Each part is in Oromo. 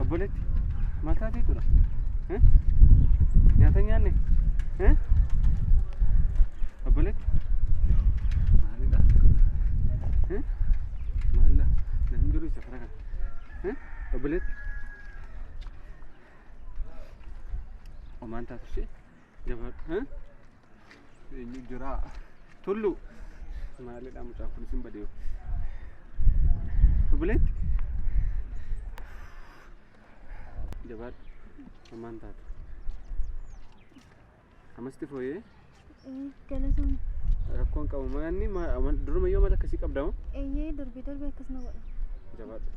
Obboleetti mataa teetudha. Nyaata nyaanne. Obboleetti. Maalidha? Maalidha? Namni duruu isa fara kana. Obboleetti. Omaan taatu ishee. Jabadha. Eenyu jira? Tullu. Maalidha mucaan kun isin badee. Obboleetti. Jabadha. Ammaan taate. Amasti fooyee Galatoon rakkoon qabu maanni duruma yoo mala akkasii qabdama. eeyyee darbee darbee akkas na godha. Jabadha.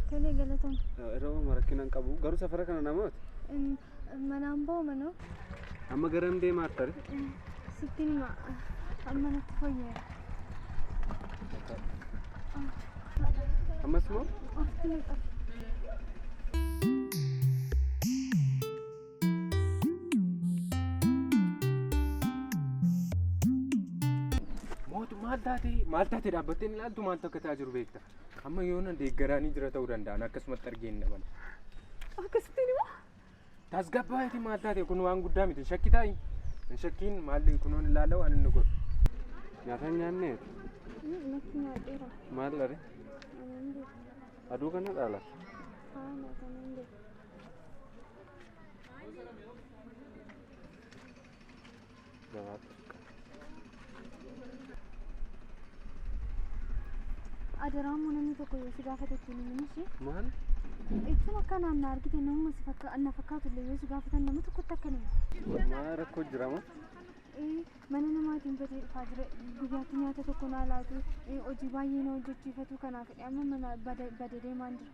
Tolee galatoon. Yeroo marakkina hin qabu garuu safara kana namoota. Manaan boo manoo. Amma garam deemaa tare? Sittiin hima. Amma natti fayyeera. Ammas moo? Ofitti ni qabu. Mootu maal taate maal taate dhaabbattee ni ilaaltu maaltu akka ta'aa jiru beekta. Amma yoona deeggaraanii jira ta'uu danda'an akkasumatti argee hin dhaban. Akkasittiin hima. Tasgabbaa'eeti maal taate kun waan guddaa miti shakki taa'i. Hin shakkiin maalli kunoon ilaalaa waan inni godhu. Nyaata hin nyaanneef Natti nyaadheera. maal dhare? Anan beeku. Aduu kana dhaala. Haala kanan beeku. Adaraa immoo namni tokko yoo si gaafate ittiin himin ishee. Maal? Jechuun akka naan na argite namuma si fakka na fakkaatu illee yoo si gaafatan nama tokkotti akka nama. Maa rakkoo jirama? Eh, Mana namaatiin badee dhufaa jira. Guyyaatti nyaata tokko naa laatu. Eh, Hojii baay'ee na hojjechiifatu kanaaf amma mana bada bada deemaan jira.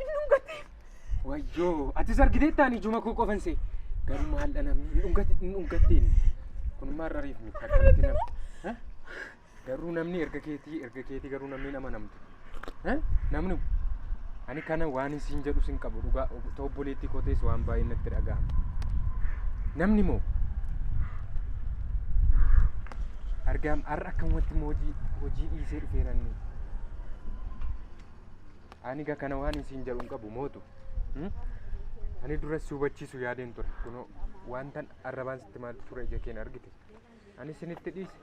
Inni dhungate. Wayyoo, atis argiteettaan ijuma koo qofan see. Garuu maal dha namni hin dhungate hin dhungatteen. Kun maal dhariif miti akkamitti nam. Ha? Garuu namni erga keetii erga keetii garuu namni hin amanamtu. Ha? Namni Ani kana waan hin siin jedhu sin qabu dhugaa ta'u obboleettii koo ta'es waan baay'ee natti dhaga'ama. Namni moo argaam har'a akkamumatti immoo hojii hojii dhiisee dhufeera inni. Ani egaa kana waan hin siin jedhu hin qabu mootu. Hmm? Ani duras si hubachiisu yaadeen ture kunoo wantan arrabaan sitti maaltu ture ija keen argite. Ani sinitti dhiise.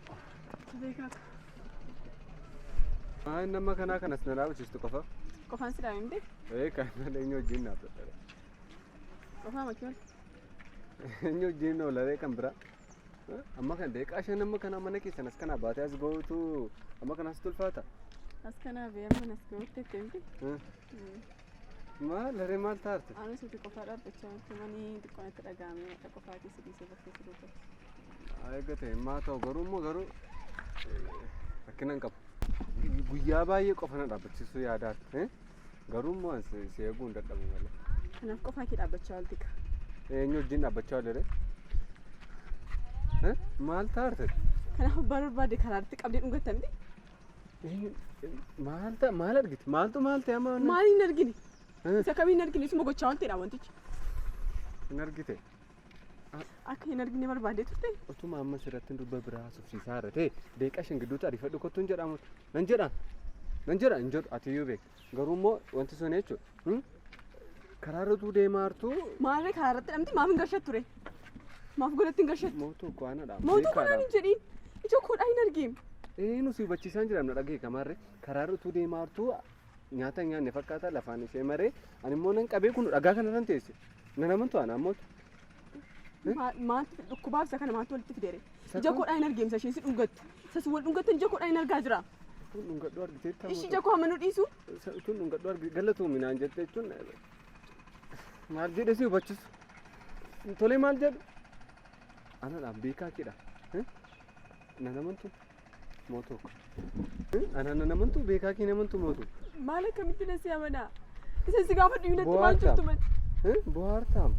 Haa inni amma kanaa kanas na dhaabachiftu qofa. Qofaan si dhaabimte? Ee kan eenyu wajjin naaf dadhabe. Qofaa makii ol. Eenyu wajjin oolaree kan biraa. Amma kan deeqaa shan amma kanaa mana keessan as kanaa baatee as gootu amma kanaas tulfaata. As kanaa bee amma nas gootu itti himte. Maal laree maal taarte? Anis uti qofaa dhaabbachaa jirti manii xiqqoon itti dhaga'amee qofaa keessa dhiisee bakkee si dubbatu. Eeggate himmaa ta'u garuu immoo garuu rakkina hin qabu. Guyyaa baay'ee qofa na dhaabbachiisuu yaadaa ture. Garuu immoo si eeguu hin dadhabu malee. Kanaaf qofaa kee dhaabbachaa oolti ka. Eenyu wajjin dhaabbachaa oolere? Maal taate? Kanaaf abbaa barbaade karaatti qabdee dhungatta miti. Maal ta'a maal argite? Maaltu maal ta'e amma? Maal hin argine? Isa kam hin argine? Isuma gochaa oolteedha wantichi. Hin argite? Akka hin argine barbaadee turte. Otuma amma sirratti dubba biraa haasofsiisaa irra ta'e deeqa shan gidduutti ariifadhu kottu hin jedhamu. Nan jedha. Nan jedha hin jedhu ati iyyuu beekta. Garuu immoo wanti sun jechuudha. Karaa irratuu deemaa hartuu Maarree karaa irratti dhamti maaf hin gashattu ture? Maaf godhatti hin gashattu? mootuu koo anadha. Mootuu kanaan hin jedhiin. Ija koodhaa hin argiin. Ee nusi hubachiisaan jiramna dhagee kamaarre karaa irratuu deemaa hartuu nyaata hin nyaanne fakkaata lafaan ishee maree ani immoo nan qabee kun dhagaa kana irran teesse nan amantu ana ammoo Ma- Maaltu dhukkubaa isa kana maaltu walitti fidere? Isa Ija kun- koodhaa hin argeemsa isheen si dhungattu. Isa si wal dhungattu ija koodhaa hin argaa jira. kun dhungadhuu argiteetta Ishii ija koo hamma nu dhiisu. kun dhungadhuu argite galatoomii naan jette jechuun maal jedhe si hubachisu tolee maal jedhu anadhaan beekaa kidha nan amantu Mootuu. Anaan nan amantu beekaa kee hin amantu mootuu. Maal akkamitti na si amanaa? Isa si gaafa dhiyu natti maal jirtu mati? Bohaartaam.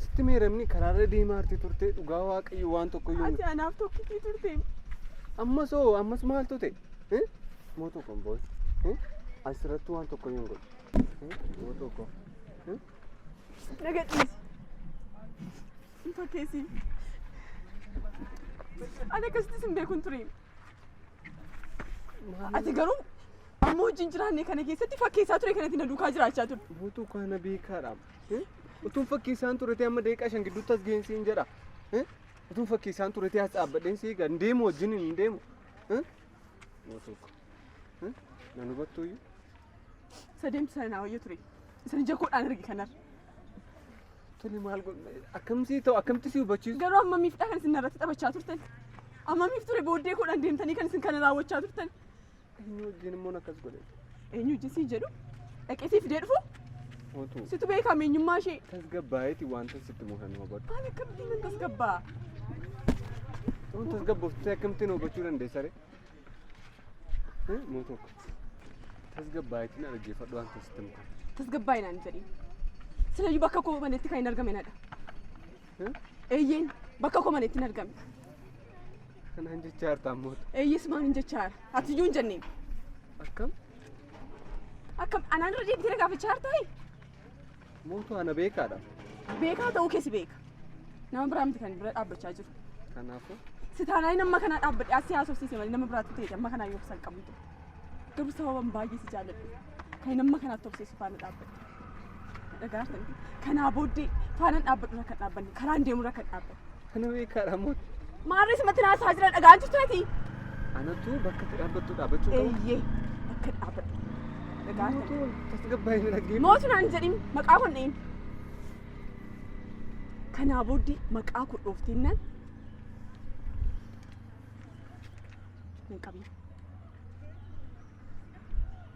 Sitti meeramni karaarra deemaa arti turte dhugaa waaqayyo waan tokko yoo Ati anaaf tokkitii turte. ammas hoo ammas maal tute mootuu kun booy asirratti waan tokko yoo godhu mootuu kun Na gadhiisi. Sin fakkeessi. Ani akkasitti sin beekun ture. Ati garuu amma wajjin jiraanne kana keessatti fakkeessaa ture kanatti na duukaa jiraachaa ture. Buutuu kana beekaadhaam. Utuun fakkeessaan ture ta'e amma daqiiqaa shan gidduutti as geessi hin jedha. Utuun fakkeessaan ture ta'e as dhaabbadheen si eega hin deemu wajjin hin deemu. Buutuu kana. Hmm? Nan hubattuu iyyuu. Isa deemtu sana naa wayya ture. Isa ija koodhaan arge kanar. Tuni maal godhu? Akkamsi ta'u akkamti si hubachiisu? Garuu amma miifdha kan isin narratti taphachaa turtan. Amma miif ture booddee koodhaan deemtanii kan isin kana raawwachaa turtan. Eenyu wajjin immoo akkas godhe? Eenyu wajjin si jedhu? Dhaqee si fidee dhufu? Mootu. Situ beekaa meenyummaa ishee. Tasgabbaa'eeti wanta sitti muhan hubadhu. Ani akkamittiin nan tasgabbaa? Tasgabboofte akkamtiin hubachuu dandeessa ree? Mootok tasgabbaa'eetiin dhaggeeffadhu waan tasitti muka. Tasgabbaa'e naan jedhi. Silayyuu bakka koo manetti kan hin argame nadha. Eeyyeen bakka koo manetti hin argame. Kanaan jechaa jirta ammoota. Eeyyees maal hin jechaa jira. Ati iyyuu hin jenneen. Akkam? Akkam anaan irra deebitee na gaafachaa jirta hee? Mootu ana beekaadha. Beekaa ta'uu kee si beeka. Nama biraa miti kan bira dhaabbachaa jiru. Kanaafuu Si taanaan inni amma kanaa dhaabbadhe as si haasofsiise malee nama biraatti ta'e amma kanaa yoo san qabdu. Garuu sababan baay'ee si jaalladhu. Kan inni amma kanaatti obseessu faana dhaabbadhe. Dhagaartan kanaa booddee faanaan dhaabbadhu irra kan dhaabbanne karaan deemu irra kan dhaabbanne. Ani beekaadha moot. Maarree simatti naasaa jira dhagaan jirtaati. Anatu bakka itti dhaabbattu dhaabbachuu qabu. Eeyyee akka dhaabbadhu. Dhagaan Mootu tasgabbaa'ee na dhaggeeffatu. Mootu naan jedhin maqaa kun dhahin. Kanaa booddee maqaa kun dhooftinnaan hin qabin.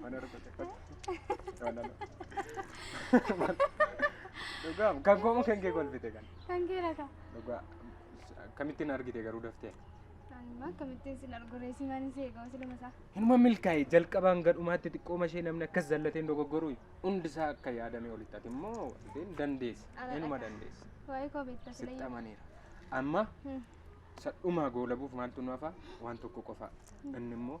mana argate fakki jaalala dhugaa kan goomu kan kee kolfite kan Kan kee laata? dhugaa akkamittiin argite garuu daftee Anuma akkamittiin sin arguree si manin si eegaa siluma isaa. Hinuma milkaa'e jalqabaan gadhumaatti xiqqooma ishee namni akkas zallateen dogoggoruu hundi isaa akka yaadame olitti ati immoo wantee dandeessi Ala hinuma dhaqa. dandeessi Waa'ee koo beektaa sila sitti amaniira amma sadhumaa goolabuuf maaltu nu hafaa waan tokko qofaa inni immoo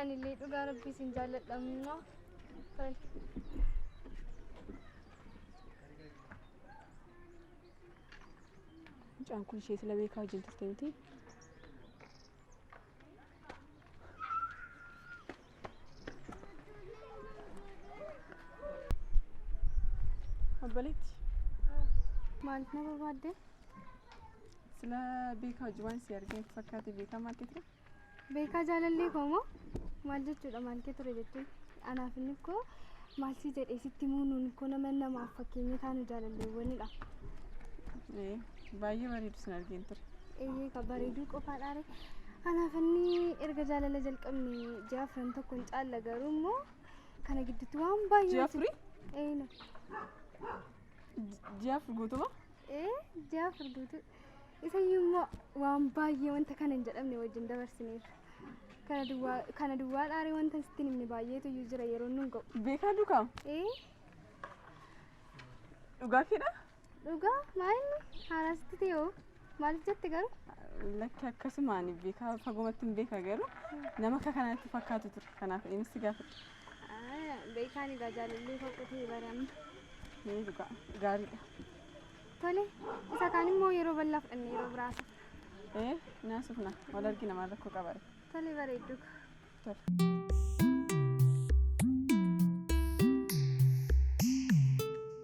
Ani illee dhugaa rabbii sin jaalladha immoo. Mucaan kun ishee sila beekaa wajjin turte miti. Obboleetti. Maaliif na barbaadde? Sila beekaa hojii waan si argee natti fakkaate beekaa maal kee ture? Beekaa jaalallee koo moo maal jechuudha maal kee ture jechuun anaaf inni koo maal si jedhee sitti muunuun koo nama namaaf fakkeenya taanu jaalalleewwanidha. Ee, Baay'ee bareedu sin argeen ture. Eeyyee ka bareeduu qofaadhaare. Anaaf inni erga jaalala jalqabne ji'a afran tokko hin caalla garuu immoo kana gidduutti waan baay'ee. Ji'a afurii? Eeyna. Ji'a afur guutumaa? ee ji'a afur guutuu isayyuu immoo waan baay'ee wanta kana hin jedhamne wajjin dabarsineerra kana duwwaa kana duwwaa dhaaree wanta sitti hin himne baay'eetu iyyuu jira yeroo nun ga'u Beekaa dukaam. ee Dhugaa keedha? dhugaa maayinni haaraasitti ta'e hoo maaliif jette garuu Lakki akkasumaan beekaa fagomatti hin beeka garuu nama akka kanaatti fakkaatu ture. Kanaaf innis gaafadha. Beekaan egaa jaalallee fakkatee baran. Mee dhugaa gaariidha. Tole isa kaan immoo yeroo bal'aa fudhanne yeroo biraasa. Ee naasufna wal argina maal rakkoo qabare. Tole bareedduu. Tole.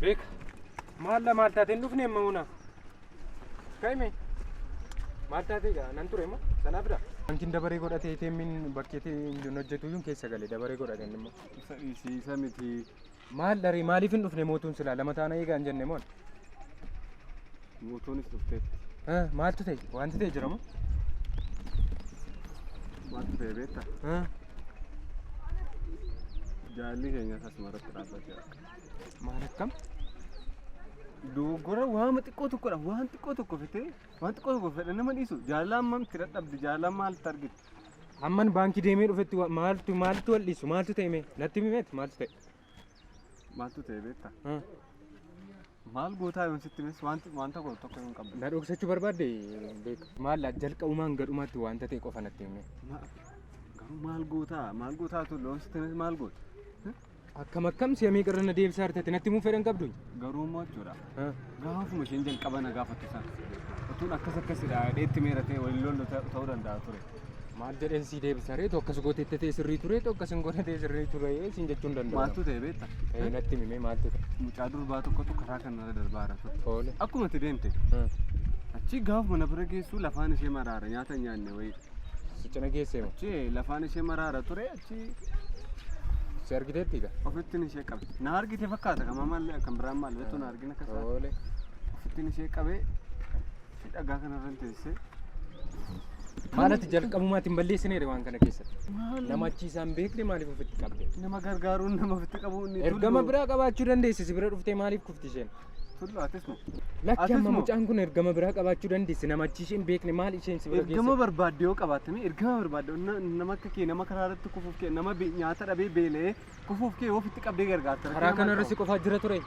Beek maal la maal taatee hin dhufne amma huna kaime maal taatee gaa nan ture immoo sanaa bira. Wanti dabaree godhatee teemmiin bakkeetii hin hojjetu iyyuu keessa gale dabaree godhate inni immoo. Isa dhiisiisa miti Maal dharee maaliif hin dhufne mootuun silaa lama taana eegaa hin jenne moon. Mootuunis dhufteetti. Eh, Maaltu ta'e wanti ta'e jiramu. Maaltu ta'e beekta? Eh, Jaalli keenya asuma irratti dhaabbateera. Maal akkam? Dogoggora waama xiqqoo tokkodha. Waan xiqqoo tokko fitee waan xiqqoo tokko fedha nama dhiisu. Jaallaan mamti dadhabdi. Jaallaan maalitti argite? Amman baankii deemee dhufetti wa- maaltu maaltu wal dhiisu maaltu ta'e mee natti himeet maaltu ta'e. Maaltu ta'e beektaa? Ha, Maal gootaa yoon sitti himes wanti wanta godhu tokko hin qabdu. Na dhoksachuu barbaadde beeka. Maal jalqabumaan gadhumaatti wanta ta'e qofa natti himee. Ma- Garuu maal gootaa? Maal gootaa tun loon sitti himes maal goota? Akkam akkam si'a meeqa irra na deebisaa jirti ati natti himuu fedhan qabdu. Garuu immoo jechuudha. Gaafuma isheen jalqaba na gaafatte sana. Utuun akkas akkasidha dheetti meera ta'e waliin lollu ta'uu danda'a ture. Maal jedheen sii deebisa reetu akkas gootee ta'e sirrii ture ta'u akkas hin goone ta'e sirrii ture siin jechuun danda'a. Maaltu ta'e beekta? Eh, Natti himee maaltu ta'e. Mucaa durbaa tokkotu karaa kanarra darbaa jira ture. Toole. Akkuma itti deemte Hmm. achi gaafuma na bira geessu lafaan ishee maraara nyaata hin nyaanne wayii. Sichana geessee moo? Achi lafaan ishee maraara ture Achi si argiteetti egaa. Ofittiin ishee qabe. Na argite fakkaata kama maallee akkan biraan maal beektu na argina akka isaa. Oole. Ofittiin ishee qabee fi dhagaa kanarra hin teessee. Maalati jalqabumaatti hin balleessineere waan kana keessatti. Maal Nama achi isaan beekne maaliif ofitti qabde? nama gargaaruun nama ofitti qabuun. Ergama biraa qabaachuu dandeessi si bira dhuftee maaliif kufti isheen? Tullu atis nu. Lakki Atis amma moo? mucaan kun ergama biraa qabaachuu dandeessi nama achi isheen beekne maal isheen si bira Ergama geesse? barbaadde yoo qabaatte mee ergama barbaadde yoo na- nama akka kee nama karaa irratti kufuuf kee nama be- nyaata dhabee beela'ee kufuuf kee yoo ofitti qabdee gargaarta. Karaa kana irra si qofaa jira ture.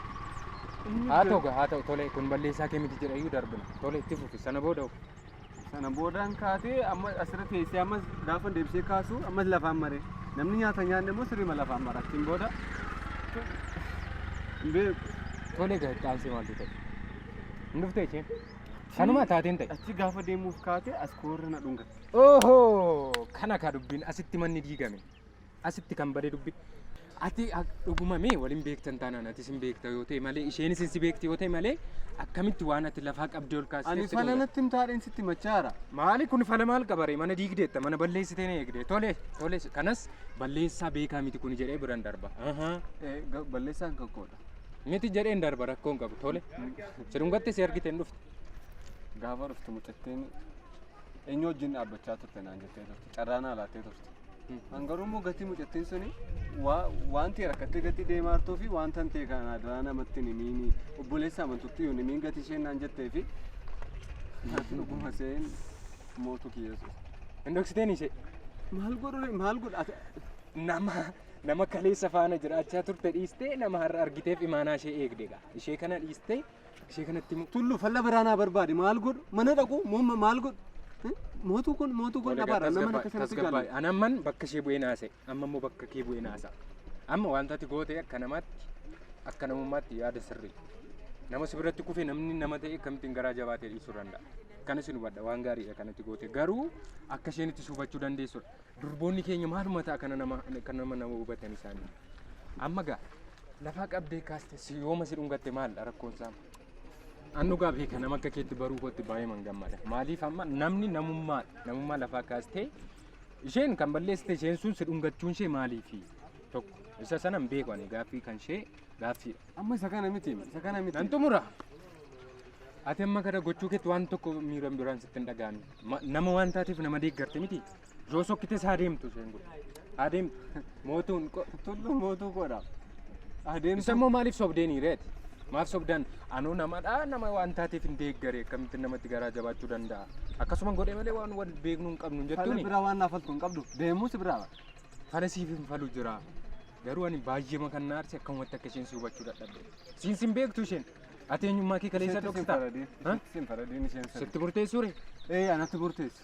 Haa ta'u gaa haa ta'u tole kun balleessaa kee miti jedhayyuu darbina. Tole itti fufi sana booda ofi. Sana boodaan kaatee amma asirra teessee ammas gaafa deebisee kaasu ammas lafaan maree. Namni nyaata nyaanne immoo sirriima lafaan mara. Achiin booda hin beeku. Tole egaa itti aansee maaltu ta'e? Hin dhuftee isheen? Kanuma taateen ta'e. Achi gaafa deemuuf kaatee as koorra na dhungatte. Oho! Kana kaa dubbiin asitti manni diigame. Asitti kan bade dubbi. Ati dhuguma mee waliin beektan taanaan ati sin beekta yoo ta'e malee isheen isin si beekti yoo ta'e malee akkamitti waan ati lafaa qabdee ol kaasee Ani fala natti himtaadheen sitti machaara. Maali kun fala maal qabare mana diigdeetta mana balleessitee na eegde tole tole kanas balleessaa beekaa miti kun jedhee biran darba. Balleessaan kan koodha. Miti jedheen darba rakkoon qabu tole. Sirungatti si argiteen dhufte. Gaafa dhuftu mucattiin eenyu wajjin dhaabbachaa turte naan jettee turte. carraa naa laattee turte. An garuu immoo gatii mucattiin suni waa- wanti rakkattee gatii deemaa jirtuu fi wanta hin ta'e kana adaraa namatti hin himiini obboleessa amantutti hin himiin gatii isheen naan jettee fi ati dhuguma seen mootu kiyyeessu. Hin dhoksiteen ishee. Maal godhu maal godhu ati nama nama kaleessa faana jiraachaa turte dhiistee nama har'a argiteef imaanaa ishee eegde gaa ishee kana dhiistee Ishee kanatti immoo tullu falla biraa naa barbaade maal godhu mana dhaqu moo ma- maal godhu Eh? mootuu kun mootuu kun dhabaadha nama akka sanatti jaalladha. An amman bakka ishee bu'ee naase amma immoo bakka kee bu'ee naasa. Amma wanta ati goote akka namaatti akka namummaatti yaada sirrii. Nama si biratti kufe namni nama ta'e akkamittiin garaa jabaatee dhiisuu danda'a. Kana si hubadha waan gaariidha kanatti goote garuu akka isheen itti si hubachuu dandeessudha. Durboonni keenya maaluma ta'a kana nama kan nama nama hubatan isaanii. Amma gaa Lafaa qabdee kaaste si yooma si dhungatte maaldha rakkoon isaa? An dhugaa beeka nama akka keetti baruu kootti baay'ee man gammada. Maaliif amma namni namummaa namummaa lafaa kaastee isheen kan balleessite isheen sun si dhungachuun ishee maaliifi? Tokko isa sana hin beeku ani gaaffii kan ishee gaaffiidha. Amma isa kana miti isa kana miti. Nan xumura. Ati amma kana gochuu keetti waan tokko miira biraan sitti hin dhaga'amin. Ma- Nama waan taateef nama deeggarte miti. Yoo sokkites haa deemtu isheen kun. Haa deemtu. Mootuun ko- tullu mootuu koodha. Haa deemtu. Isa immoo maaliif sobdeeni reeti? Maaf sobdan anuu namadha nama waan taateef hin deeggare akkamitti namatti garaa jabaachuu danda'a. Akkasuma godhe malee waan wal beeknu hin qabnu hin Fala jettuuni. biraa waan naafaltu hin qabdu. Deemuu si biraa. Fala siif hin falu jira. Garuu ani baay'eema kan na aarse akkamumatti akka isheen si hubachuu dadhabde. Siin sin beektu isheen. Ati eenyummaa kee kaleessa Isheetti sin dhoksita. faradeen- Ha? isheetti sin faradeen isheen sana. Sitti murteessuure? Ee anatti murteessi.